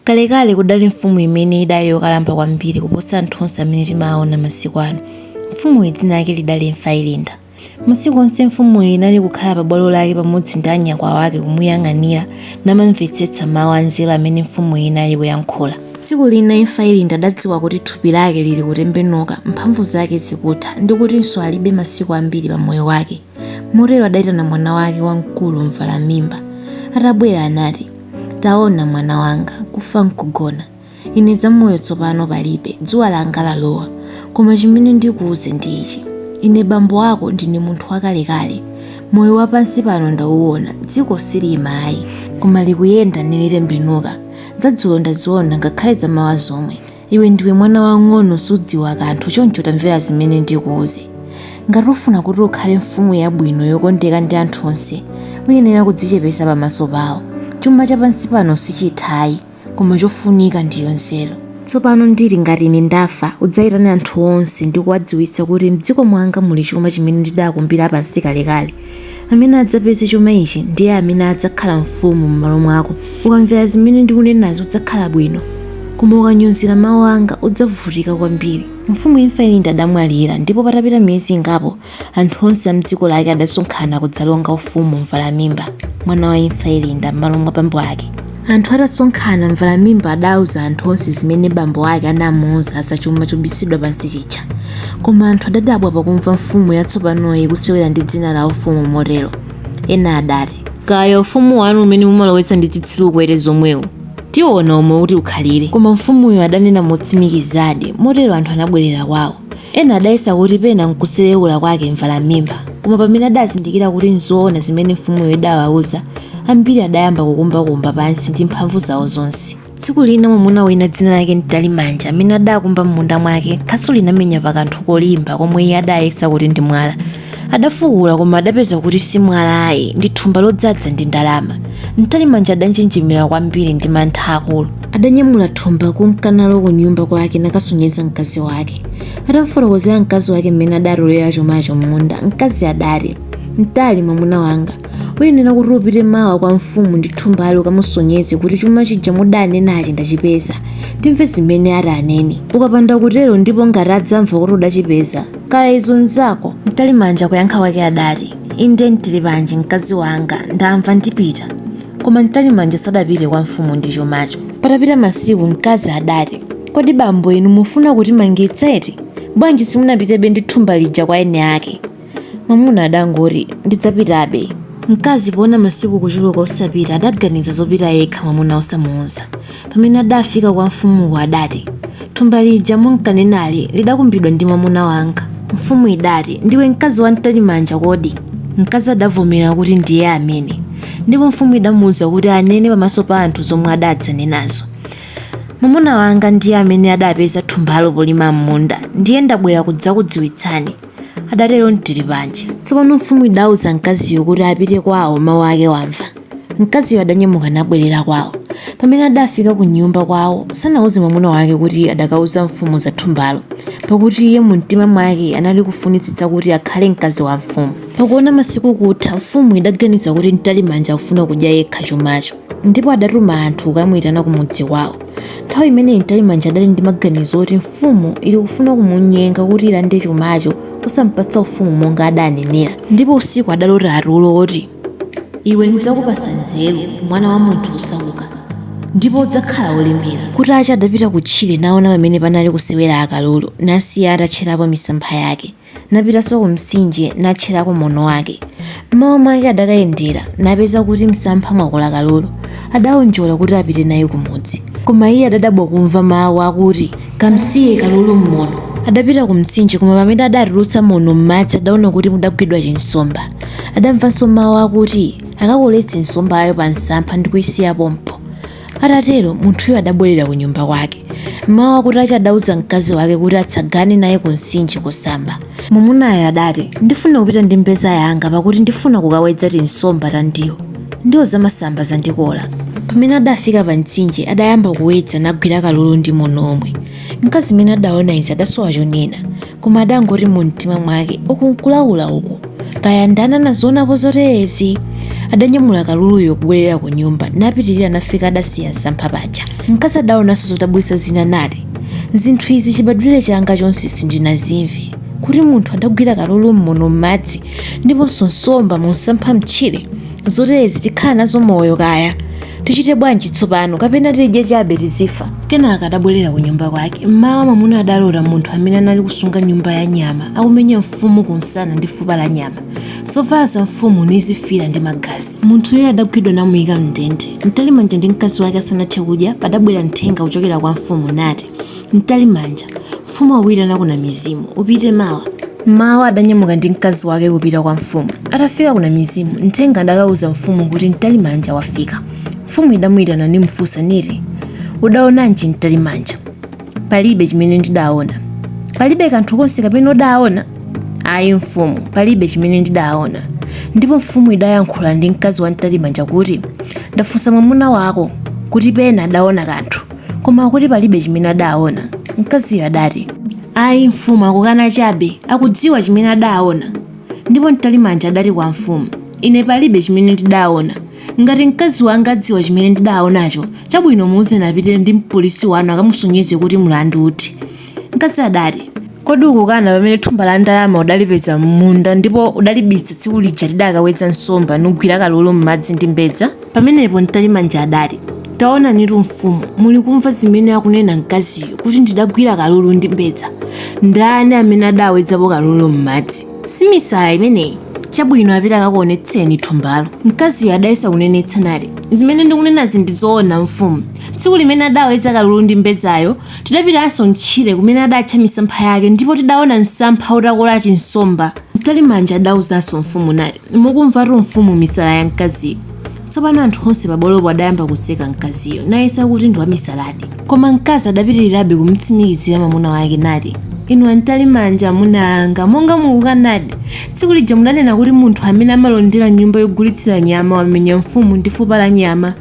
Kalekale kudali mfumu imene idali yokalamba kwambiri kuposa anthu onse amene timawaona masiku ano. Mfumuyi dzina lake lidali Imfa Ilinda. Masiku onse mfumuyi inali kukhala pabwalo lake pamodzi ndi anyakwawa ake akumuyang'anira namamvetsetsa mawu anzeru amene mfumuyi inali kuyankhula. Tsiku lina Imfa Ilinda adadziwa kuti thupi lake lili kutembenuka, mphamvu zake zikutha ndi kutinso alibe masiku ambiri pamoyo wake. Motero adaitana mwana wake wamkulu Mvalamimba. Atabwera anati. Taona, mwana wanga, kufa nkugona. Ine zamoyo tsopano palibe, dzuwa langa lalowa. Koma chimene ndikuuze ndi ichi, ine bambo ako ndine munthu wakalekale. Moyo wa pansi pano ndauona, dziko siliima ayi, koma likuyenda nilitembenuka. Zadzulo ndaziona, ngakhale zamawa zomwe. iwe ndiwe mwana wang'ono sudziwa kanthu choncho tamvera zimene ndikuuze ngati ufuna kuti ukhale mfumu yabwino yokondeka ndi anthu onse uyenera kudzichepesa pamaso pawo chuma chapansi pano sichithayi koma chofunika ndiyo nzeru tsopano nditi ngati ine ndafa udzayitane anthu onse ndi kuwadziwitsa kuti mdziko mwanga muli chuma chimene ndidakumbira pansi kalekale Amene adzapeze chuma ichi ndiye amene adzakhala mfumu m'malo mwako. Ukamvera zimene ndikunenazi udzakhala bwino, koma ukanyozera mawu anga udzavutika kwambiri. Mfumu Imfa Ilinda adamwalira, ndipo patapita miyezi ingapo, anthu onse a m'dziko lake adasonkhana kudzalonga ufumu Mvalamimba, mwana wa Imfa Ilinda, m'malo mwa bambo ake. Anthu atasonkhana, Mvalamimba adauza anthu onse zimene bambo ake anamuuza za chuma chobisidwa pansi chija. Koma anthu adadabwa pakumva mfumu yatsopanoyi ikusewera ndi dzina la ufumu motero. Ena adati. Kaya ufumu wanuwu umene mumalowetsa ndi zitsiru kwete zomwewo, tiona umo uti ukhalire. Koma mfumuyo adanena motsimikizadi, motero anthu anabwerera kwawo. Ena adayesa kuti pena nkusereula kwake Mvalamimba, koma pamene adazindikira kuti nzoona zimene mfumuyo idawauza, ambiri adayamba kukumbakumba pansi ndi mphamvu zao zonse. Tsiku lina mwamuna wina dzina lake Mtalimanja amene adaakumba m'munda mwake, khasu linamenya pa kanthu kolimba komwe iye adayesa kuti ndi mwala. adafukula koma adapeza kuti si mwala ayi ndi thumba lodzadza ndi ndalama mtalimanja adanjenjemera kwambiri ndi mantha akulu adanyamula thumba kunka nalo ku nyumba kwake nakasonyeza mkazi wake atamfotokozera mkazi wake mmene adatolera chumacho m'munda mkazi adati mtali mwamuna wanga uyenera kuti upite mawa kwa mfumu ndi thumbalo ukamusonyeze kuti chuma chija mudanenachi ndachipeza timve zimene ati anene ukapanda kutero ndipo ngati adzamva kuti udachipeza kaya izo nzako mtalimanja kuyankha kwake adati inde mtilipanji mkazi wanga ndamva ndipita koma mtalimanja sadapite kwa mfumu ndi chumacho patapita masiku mkazi adati kodi bambo inu mufuna kutimangitsa eti bwanji simunapitebe ndi thumba lija kwa eni ake mwamuna adangoti ndidzapitabe mkazi poona masiku kuchuluka osapita adaganiza zopita yekha mwamuna osamuuza Pamene adafika kwa mfumuko adati, Thumba lija munkanenali lidakumbidwa ndi mwamuna wanga. Mfumu idati, Ndiwe mkazi wa Mtalimanja kodi? Mkazi adavomera kuti ndiye amene, ndipo mfumu idamuuza kuti anene pamaso pa anthu zomwe adadzanenazo. Mwamuna wanga ndiye amene adapeza thumbalo polima m'munda, ndiye ndabwera kudzakudziwitsani. adatero mtiripanje tsopano mfumu idauza mkaziyo kuti apite kwawo mawu ake wamva mkaziyo adanyamuka nabwerera kwawo pamene adafika ku nyumba kwawo sanauze mwamuna wake kuti adakauza mfumu za thumbalo pakuti iye mu mtima mwake anali kufunitsitsa kuti akhale mkazi wa mfumu pakuona masiku kutha mfumu idaganiza kuti mtalimanja akufuna kudya yekha chumacho ndipo adatuma anthu kukamuitana ku mudzi kwawo nthawi imeneyi mtalimanja adali ndi maganizo oti mfumu ili kufuna kumunyenga kuti ilande chumacho osampatsa ufumu monga adanenera ndipo usiku adalota tulo oti iwe ndidzakupasa nzeru mwana wa munthu wosauka ndipo udzakhala wolemera Kutacha adapita kutchire naona pamene panali kusewera akalulu nasiya atatcherapo misampha yake Napitanso kumtsinje, natcherako mono wake. M'mawa mwake adakayendera, napeza kuti m'msampha mwakola kalulu. Adaonjola kuti apite naye kumudzi. Koma iye adadabwa kumva mawu akuti, Kamsiye kalulu m'mono. Adapita kumtsinje, koma pamene adatulutsa mono m'madzi adaona kuti mudagwidwa chinsomba. Adamvanso mawu akuti, Akakoletse nsombayo pamsampha ndi kuisiya pompo. Atatero munthuyo adabwerera ku nyumba kwake. Mmawa kutacha adauza mkazi wake kuti atsagane naye ku mtsinje kusamba. Mwamunayo adati, Ndifuna kupita ndi mbeza yanga pakuti ndifuna kukawedza tinsomba ta ndiwo. Ndiwo zamasamba zandikola. Pamene adafika pa mtsinje adayamba kuwedza nagwira kalulu ndi mono omwe. Mkazi mmene adaona izi adasowa chonena. koma adangoti mu mtima mwake uku nkulaula uku kaya ndani anazionapo zoterezi adanyamula kaluluyo kubwerera ku nyumba napitirira nafika adasiya msampha paja mkazi adaonanso zodabwitsa zina nati zinthu izi chibadwire changa chonse sindinazimve kuti munthu adagwira kalulu mmono m'madzi ndiponso nsomba mu msampha mtchire zoterezi tikhala nazo moyo kaya tichite bwanji tsopano kapena tidye chabe tizifa kenaka adabwerera ku nyumba kwake mmawa mwamuna adalota munthu amene anali kusunga nyumba ya nyama akumenya mfumu kumsana ndi fupa la nyama zovala za mfumu nizifira ndi magazi munthuyo adagwidwa namuyika mndende mtalimanja ndi mkazi wake asanathe kudya padabwera mthenga kuchokera kwa mfumu nati Mtalimanja, mfumu akukuitana ku Namizimu, upite mawa. M'mawa adanyamuka ndi mkazi wake kupita kwa mfumu. Atafika ku Namizimu, mthenga adakauza mfumu kuti Mtalimanja wafika. Mfumu idamuitana nimufunsa niti, Udaonanji Mtalimanja? Palibe chimene ndidaona. Palibe kanthu konse kapena udaona? Ayi mfumu, palibe chimene ndidaona. Ndipo mfumu idayankhula ndi mkazi wa Mtalimanja kuti, Ndafunsa mwamuna wako kuti pena adaona kanthu. koma akuti palibe chimene adaona mkaziyo adati ayi mfumu akukana chabe akudziwa chimene adaona ndipo mtalimanja adati kwa mfumu ine palibe chimene ndidaona ngati mkazi wanga adziwa chimene ndidaonacho chabwino muuze apite ndi mpolisi wanu akamusonyeze kuti mlandu uthe Mkazi adati, Kodi ukukana pamene thumba la ndalama udalipeza m'munda ndipo udalibisa tsiku lija tidakawedza nsomba nugwira kalulu m'madzi ndi mbedza? Pamenepo Mtalimanja adati, Taonanitu mfumu, muli kumva zimene akunena mkaziyo kuti ndidagwira kalulu ndi mbedza. Ndani amene adawedzapo kalulu m'madzi? Si misala imeneyi? Chabwino apite akakuonetseni thumbalo. Mkaziyo adayesa kunenetsa nati, Zimene ndikunenazi ndi zoona mfumu. Tsiku limene adawedza kalulu ndi mbedzayo, Tidapitanso m'tchire kumene adatcha misampha yake, ndipo tidaona msampha utakola chinsomba. Mtalimanja adauzanso mfumu nati, Mukumvatu mfumu misala ya mkaziyo. Tsopano anthu onse pabwalopo adayamba kuseka mkaziyo, nayesa kuti ndi wamisaladi. Koma mkazi adapitirirabe kumtsimikizira mwamuna wake nati, Inu a Mtalimanja, amuna anga, monga mukukanadi, tsiku lija mudanena kuti munthu amene amalondera nyumba yogulitsira nyama wamenya mfumu ndi fupa la nyama.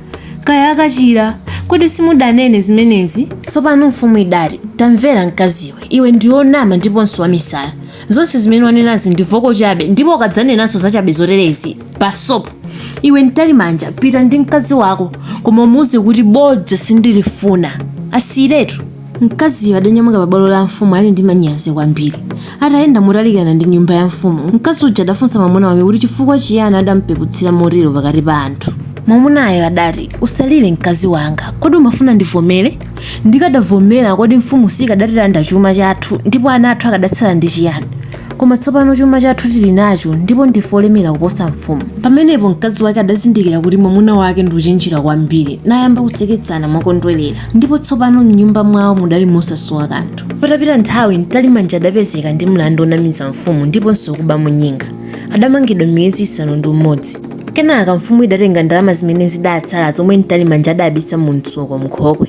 kaya akachira kodi simudanene zimenezi tsopano mfumu idati tamvera mkaziwe iwe ndiwe wonama ndiponso wamisala zonse zimene wanenazi ndi voko chabe ndipo ukadzanenanso zachabe zoterezi pasopo iwe mtalimanja pita ndi mkazi wako koma umuuze kuti bodza sindilifuna asiyiretu Mkaziyo adanyamuka pa bwalo la mfumu ali ndi manyazi kwambiri. Atayenda motalikirana ndi nyumba ya mfumu, mkazi uja adafunsa mwamuna wake kuti chifukwa chiyani adamupeputsira motero pakati pa anthu. Mwamunayo adati, Usalire mkazi wanga, kodi umafuna ndivomere? Ndikadavomera, kodi mfumu siikadatilanda chuma chathu, ndipo ana athu akadatsala ndi chiyani? Koma tsopano chuma chathu tili nacho, ndipo ndife olemera kuposa mfumu. Pamenepo mkazi wake adazindikira kuti mwamuna wake ndi wochenjera kwambiri, nayamba kuseketsana mokondwerera. ndipo tsopano m'nyumba mwawo mudali mosasowa kanthu patapita nthawi mtalimanja adapezeka ndi mlandu wonamiza mfumu ndiponso kuba mwa nyinga adamangidwa miyezi isanu ndi umodzi kenaka mfumu idatenga ndalama zimene zidatsala zomwe mtalimanja adabisa mu mtsuko mnkhokwe